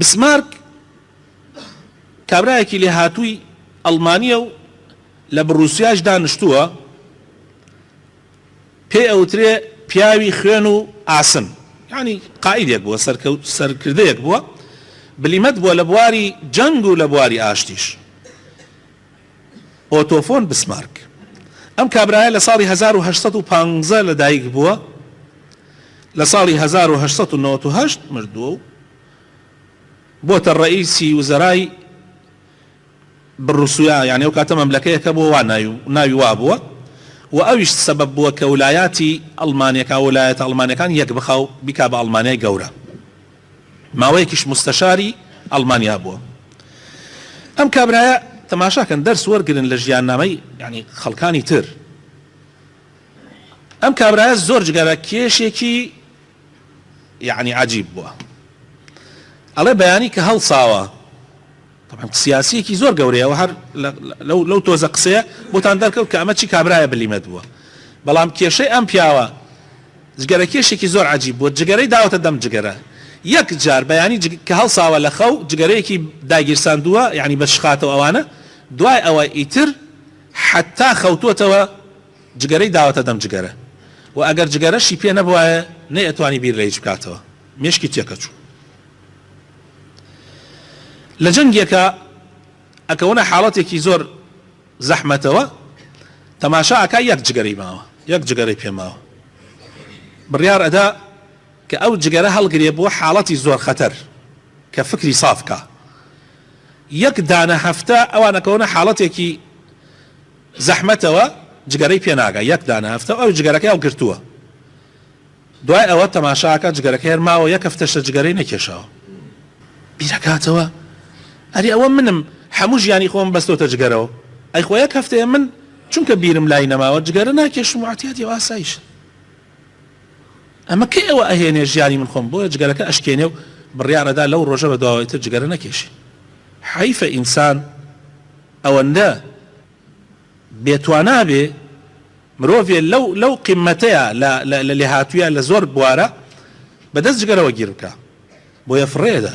بسمارک کابرایەکی لێهاتووی ئەڵمانیە و لە بڕوسیاش دانیشتووە پێ ئەوترێ پیاوی خوێن و ئاسن ینی قائیدێک بووە سەرکردەیەک بووە بلیمەت بووە لە بواری جەنگ و لە بواری ئاشتیش ئۆتۆ فۆن بسمارک ئەم کابرایە لە ساڵی هەزار و هەشت سەد و پانزە لە دایک بووە لە ساڵی هەزار و هەشت سەد و نەوەد و هەشت مردووە و بۆتە ڕەئیسی وزەرای بڕوسویا یعنی ئەو کاتە مەملەکەیەکە بۆ وا ناوی ناوی وا بووە و ئەویش سەبەب بووە کە ولایاتی ئەڵمانیەکان ولایەتە ئەڵمانیەکان یەک بخا و بیکا بە ئەڵمانیای گەورە. ماوەیەکیش موستەشاری ئەڵمانیا بووە ئەم کابرایە تەماشا کەن دەرس وەرگرن لە ژیاننامەی یانی خەڵکانی تر ئەم کابرایە زۆر جگەرە کێشێکی یانی عجیب بووە ئەڵێ بەیانی کە هەڵساوە تەبعەن سیاسیەکی زۆر گەورەیە و هەر لەو لەو تۆزە قسەیە بۆتان دەرکەوت کە ئەمە چی کابرایە بلیمەت بووە بەڵام کێشەی ئەم پیاوە جگەرە کێشێکی زۆر عجیب بووە جگەرەی داوەتە دەم جگەرە یەک جار بەیانی جگ... کە هەڵساوە لە خەو جگەرەیەکی داگیرساندووە یعنی بە شخاتەوە ئەوانە دوای ئەوە ئیتر حتا خەوتوەتەوە جگەرەی داوەتە دەم جگەرە و ئەگەر جگەرەشی پێ نەبوایە نەیەتوانی بیر لە هیچ بکاتەوە مێشکی تێکەچوو لە جەنگێکا ئەکەونە حاڵەتێکی زۆر زەحمەتەوە تەماشا ئەکا یەک جگەرەی ماوە یەک جگەرەی پێ ماوە بڕیار ئەدا کە ئەو جگەرە هەڵگرێ بۆ حاڵەتی زۆر خەتەر کە فکری ساف کا یەک دانە هەفتە ئەوان ئەکەونە حاڵەتێکی زەحمەتەوە جگەرەی پێناگا یەک دانە هەفتە ئەو جگەرەکەی هەڵگرتووە دوای ئەوە تەماشا ئەکات جگەرەکەی هەر ماوە یەک هەفتەشە جگەرەی نەکێشاوە بیرەکاتەوە ئەرێ ئەوە منم هەموو ژیانی خۆم بەستۆتە جگەرەوە ئەی خۆ یەک هەفتەیە من چونکە بیرم لای نەماوە جگەرە ناکێشم و عەتیادی و ئاسایش ئەمە کەی ئەوە ئەهێنێ ژیانی من خۆم بۆیە جگەرەکە ئەشکێنێ و بڕیارەدا لەو ڕۆژە بە دواوەی تر جگەرە نەکێشی حەیفە ئینسان ئەوەندە بێ توانا بێ مرۆڤێ لەو لەو قیمەتەیا لە لە لێهاتوویە لە زۆر بوارە بە دەست جگەرەوە گیر بکا بۆیە فڕێ ئەدا.